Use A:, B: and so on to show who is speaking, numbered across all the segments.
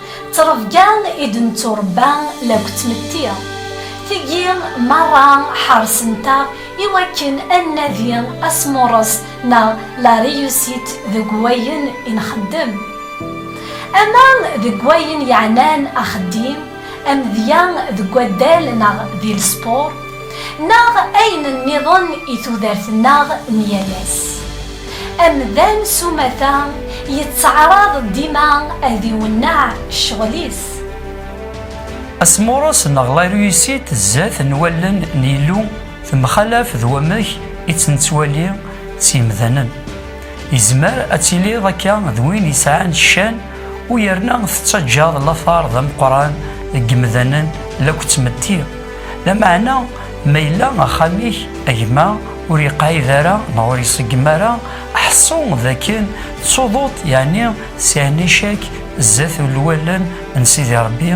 A: D ttrebga i d-netturebba lakk d tmetti. Tigi merra ḥersent-aɣ i wakken ad nnadi asmurres neɣ la réussite deg wayen i nxeddem. Ama deg wayen yeɛnan axeddim, amedya deg waddal neɣ di lespur. neɣ ayen nniḍen i tudert-nneɣ n yal ass. Amdan s umata yettaɛraḍ dima ad iwenneɛ ccɣel-is.
B: Asmurres neɣ la réussite zdat n wallen n Yillu temxalaf d wamek i tt-nettwali s yemdanen. Yezmer ad tiliḍ akka d win yesɛan ccan u yerna tettaǧǧaḍ later d ameqqran deg yemdanen la k-ttmetti, Lameɛna ma yella axxam-ik a gma ur yeqɛid ara neɣ ur iṣeggem ara, ḥṣu d akken tsuḍuḍ yeɛni sɛin icak zdat n lwalen n Sidi Ṛebbi,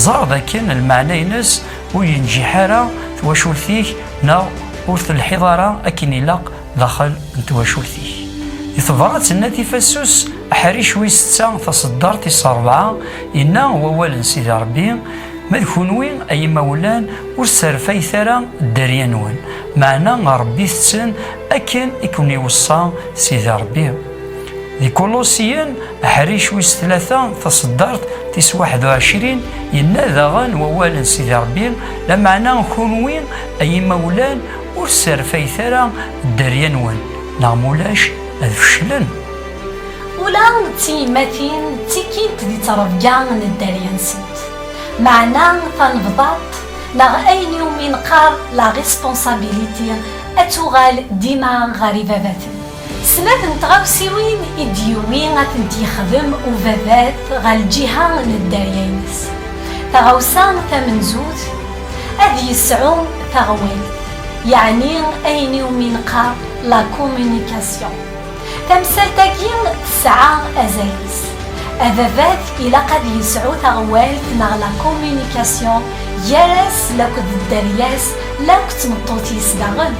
B: ẓer d akken lmeɛna-ines ur yenǧiḥ ara twacult-ik neɣ ur telḥiḍ ara akken ilaq Daxel n twacult-ik. Di tebrat n Nati Fassus, aḥric wis tta taṣeddart tis rebɛa, yenna wawal n Sidi Rebbi, Ma d kunwi ay imawlan ur sserfayet ara dderya-nwen, meɛna rebbit-ten akken i ken-iweṣṣa Sidi Rebbi. Di Kulusiyen, aḥric wis tlata taṣeddart tis waḥed u ɛecrin, yenna daɣen wawal n Sidi Rebbi, Lameɛna kunwi ay imawlan Ur sserfayet ara dderya-nwen, neɣ ma ulac ad feclen.
A: Ula d tiyemmatin ttikint di ttrebga n dderya-nsent. Meɛna tanebḍaḍt neɣ ayen iwumi neqqar la responsabilité ad tuɣal dima ɣer ibabaten. Snat n tɣawsiwin i d-yuwi ad tent-yexdem ubabat ɣer lǧiha n dderya-ines. Taɣawsa tamenzut, ad yesɛu taɣwilt, yeɛni ayen i wumi neqqar la communication. Tamsalt-agi tesɛa azal-is. Ababat ilaq ad yesɛu taɣwalt neɣ la communication gar-as akked dderya-s la akked tmeṭṭut-is daɣen.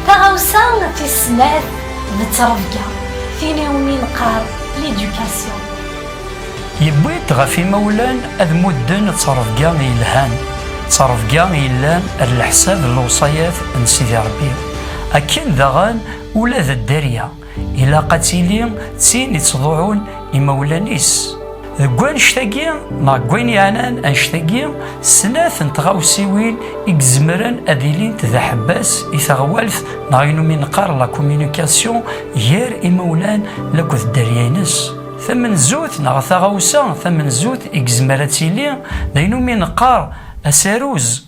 A: Taɣawsa tis snat d ttrebga, tin iwumi neqqar l'éducation.
B: Yewwi-d ɣef imawlan ad mudden ttrebga yelhan, ttrebga yellan ar leḥsab n lewṣayat n Sidi Rebbi, akken daɣen ula d dderya. Ilaq ad tili d tin ittḍuɛun imawlan-is. Deg wanect-agi neɣ deg wayen yeɛnan anect-agi, snat n tɣawsiwin i izemren ad ilint d aḥebbas i teɣwalt neɣ ayen umi neqqar la communication gar imawlan akked dderya-nnes. Tamenzut neɣ taɣawsa tamenzut i izmer ad tili d ayen umi neqqar asaruz.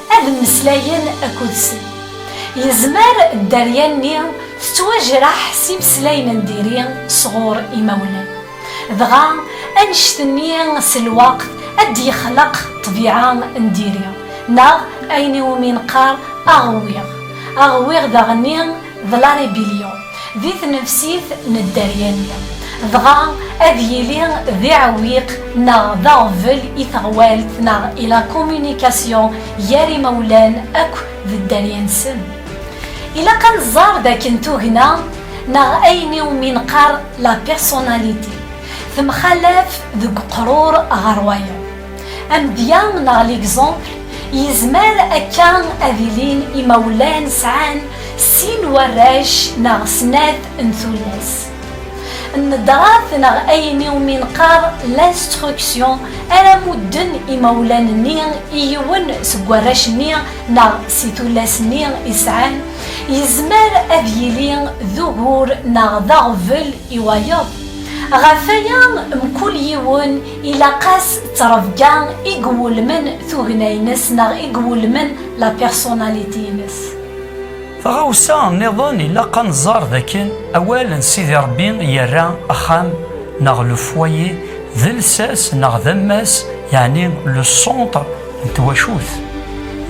A: ad mmeslayen akked-sen. Yezmer dderya-nni tettwajraḥ s imeslayen n diri sɣur imawlan. Dɣa annect-nni s lweqt ad d-yexleq ṭṭbiɛa n diri neɣ ayen iwumi neqqar aɣwiɣ. Aɣwiɣ daɣenni Vlari Bilio di tnefsit n dderya-nni, dɣa ad yili d iɛewwiq neɣ d aɣbel i teɣwalt neɣ i la communication gar imawlan akk d dderya-nsen. Ilaq ad nẓer dakken tugna neɣ ayen i wumi neqqar la personnalité temxalaf deg uqrur ɣer wayeḍ. Amedya neɣ l'exemple yezmer akka ad ilin imawlan sɛan sin warrac neɣ snat n tullas. Nnedrat neɣ ayen iwumi nqar l'instruction ara mudden imawlan-nni i yiwen seg warrac-nni neɣ si tullas-nni i sɛan, yezmer ad yili d ugur neɣ d aɣbel i wayeḍ. Ɣef waya, mkul yiwen Ilaq-as d ttrebga i iwulmen tugna-ines neɣ i iwulmen la personnalité-ines. Taɣawsa
B: nniḍen ilaq ad nẓer d akken awal n Sidi Ṛebbi yerra axxam neɣ le foyer d lsas neɣ d ammas yeɛni le centre n twacult.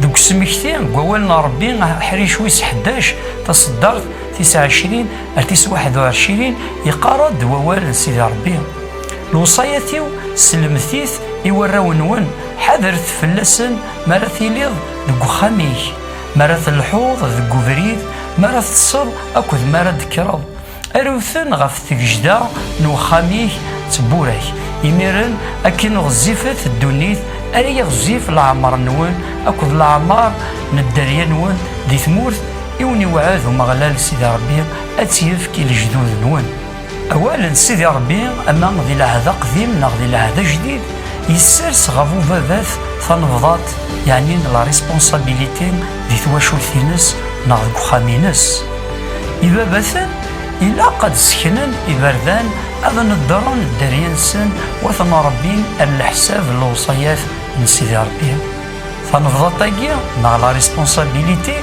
B: Deg usmekti n wawal n Ṛebbi aḥric wis ḥdac taṣeddart tis ɛecrin ar tis waḥed u ɛecrin yeqqar-d wawal n Sidi Ṛebbi. Lewṣayat-iw selmet-it i warraw-nwen, ḥadret fell-asen mi ara tiliḍ deg uxxam-ik, mi ara telḥuḍ deg ubrid, mi ara teṭṭseḍ akked mi ara d-tekkreḍ. Aru-ten ɣef tgejda n uxxam-ik d tewwura-k. Imiren akken ɣezzifet ddunit, ara yiɣezzif leɛmer-nwen akked leɛmer n dderya-nwen di tmurt i wen-iweɛɛed Umeɣlal Sidi Ṛebbi ad tt-yefk i lejdud-nwen. Awal n Sidi Ṛebbi, ama di lɛehd aqdim neɣ di lɛehd ajdid, yessers ɣef ubabat tanebḍaṭ, yeɛni n la responsabilité di twacult-ines neɣ deg uxxam-ines. Ibabaten ilaq ad sseknen iberdan, ad neddren dderya-nsen, u ad ten-rebbin ar leḥsab n lewṣayat n Sidi Ṛebbi. Tanebḍaṭ-agi neɣ la responsabilité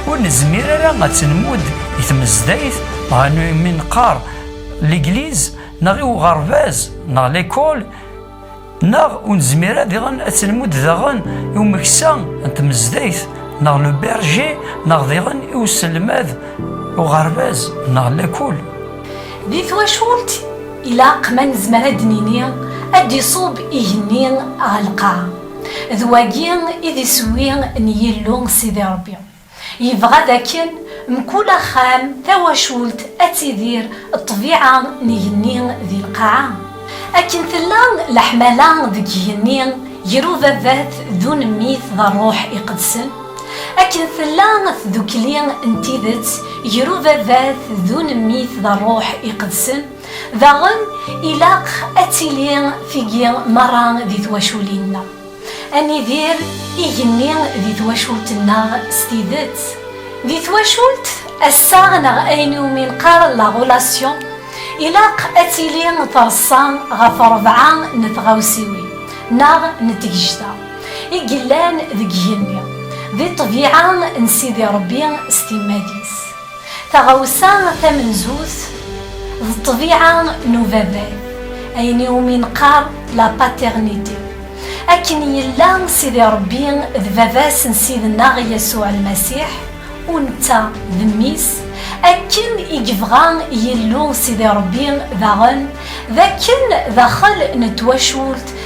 B: ur nezmir ara ad tenmud i tmezdayt neɣ imi neqqar legliz neɣ i uɣerbaz neɣ lekol neɣ ur nezmir ara diɣen ad tenmud daɣen i umeksa n tmezdayt neɣ le berger neɣ diɣen i uselmad uɣerbaz neɣ lekol. Di
A: twacult ilaq ma nezmer ad d-nini ad d-iṣub igenni ɣer lqaɛa. D wagi i d iswi n Yillu Sidi Ṛebbi. Yebɣa d akken mkul axxam, tawacult, ad tidir ṭṭbiɛa n igenni di lqaɛa. Akken tella leḥmala deg igenni ger Ubabat d Unemmit d Ṛṛuḥ Iqedsen, akken tella tdukli n tidet ger Ubabat d Unemmit d Ṛṛuḥ Iqedsen. Daɣen, ilaq ad tili tigi merra di twaculin-nneɣ. Ad nidir igenni di twacult-nneɣ s tidet. Di twacult, assaɣ neɣ ayen iwumi neqqar la relation, ilaq ad tili treṣṣa ɣef rebɛa n tɣawsiwin neɣ n tegejda i yellan deg igenni, di ṭṭbiɛa n Sidi Ṛebbi s timmad-is. Taɣawsa tamenzut d ṭṭbiɛa n ubabat, ayen i wumi neqqar la paternité. Akken yella Sidi Rebbi d baba-s n Ssid-nneɣ Yasuɛ Lmasiḥ, u netta d mmi-s, akken i yebɣa Yillu Sidi Rebbi daɣen d akken daxel n twacult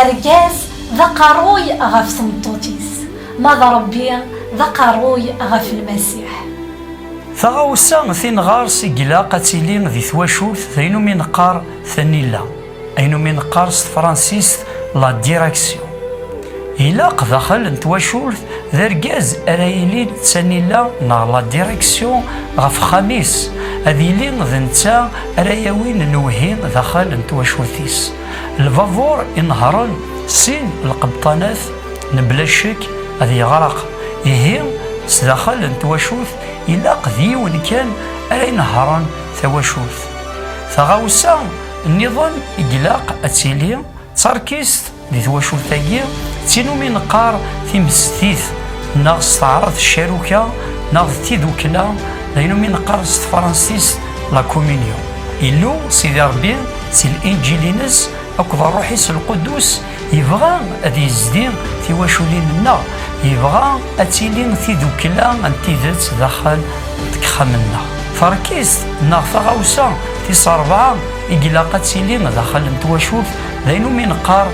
A: Argaz d aqerruy ɣef tmeṭṭut-is, ma d Ṛebbi d aqerruy ɣef Lmasiḥ.
B: Taɣawsa tinɣars i ilaq ad tili di twacult d ayen umi neqqar tanila, ayen umi neqqar s tefransist la direction. Ilaq daxel n twacult d argaz ara yilin d tanila neɣ la direction ɣef uxxam-is, ad yili d netta ara yawin lewhi daxel n twacult-is. Lbabuṛ i nehṛen sin lqebṭanat mebla ccek ad yeɣreq, ihi sdaxel n twacult ilaq d yiwen kan ara inehṛen tawacult. Taɣawsa nniḍen i ilaq ad tili d tarkist di twacult-agi d tin umi neqqar timestit neɣ s taɛrabt ccaruka neɣ d tidukkla d ayen umi neqqar s tefransist la communion. Illu Sidi Ṛebbi Si l-iǧil-ines akked rruḥ-is lqudus, yebɣa ad yezdi tiwaculin-nneɣ, yebɣa ad tili tidukkla n tidet daxel n texxam-nneɣ. Tarkist neɣ taɣawsa tis rebɛa i ilaq ad tili daxel n twacult d ayen umi neqqar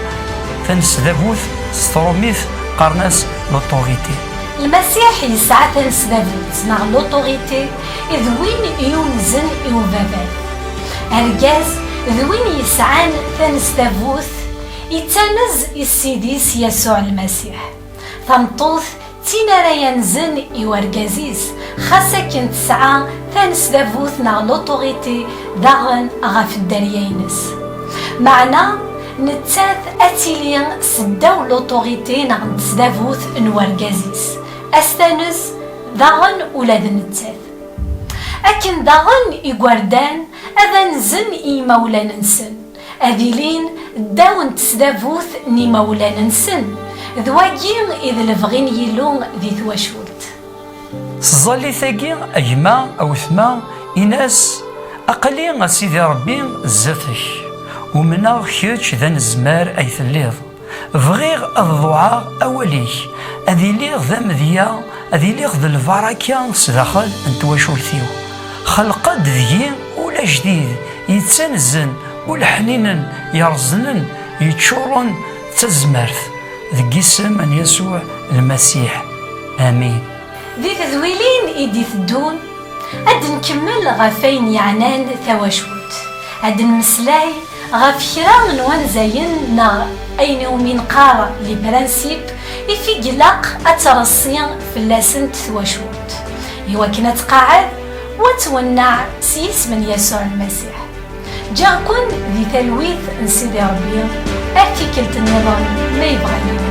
B: tanesdabut s trumit, qqaren-as l'autorité. Lmasiḥ yesɛa tanesdabut neɣ
A: l'autorité d win yunzen i ubabat. Argaz d win yesɛan tanestabut yettanez i Ssid-is Yasuɛ Lmasiḥ. Tameṭṭut d tin ara yanzen i urgaz-is, xas akken tesɛa tanesdabut neɣ l'autorité daɣen ɣef dderya-ines. Meɛna, nettat ad tili seddaw l'autorité neɣ n tesdabut n urgaz-is, ad s-tanez, Daɣen ula d nettat. Akken daɣen igerdan ad anzen i yimawlan-nsen, ad ilin ddaw n tesdabut n yimawlan-nsen, d wagi i d lebɣi n Yillu di twacult. S
B: tẓallit-agi, a gma, a wetma, in-as, Aql-i, a Sidi Ṛebbi, zdat-k. Umneɣ kečč d anezmar ay telliḍ. Bɣiɣ ad ḍuɛeɣ awal-ik, ad iliɣ d amedya, ad iliɣ d lbaraka sdaxel n twacult-iw. Xelq-d deg-i ul ajdid, yettanzen, ul ḥninen, yerẓnen, yeččuren d tazmert. Deg yisem n Yasuɛ Lmasiḥ, amin. Di
A: tedwilin i d-iteddun, ad d-nkemmel ɣef wayen yeɛnan tawacult, ad d-nmeslay Ɣef kra n wanzayen neɣ ayen iwumi neqqar les principes i t-id ilaq ad treṣṣi fell-asent twacult i wakken ad tqeɛɛed u ad twenneɛ s yisem n Yasuɛ Lmasiḥ. Ǧǧiɣ-ken di talwit n Sidi Ṛebbi ar tikkelt nniḍen ma yebɣa Yillu.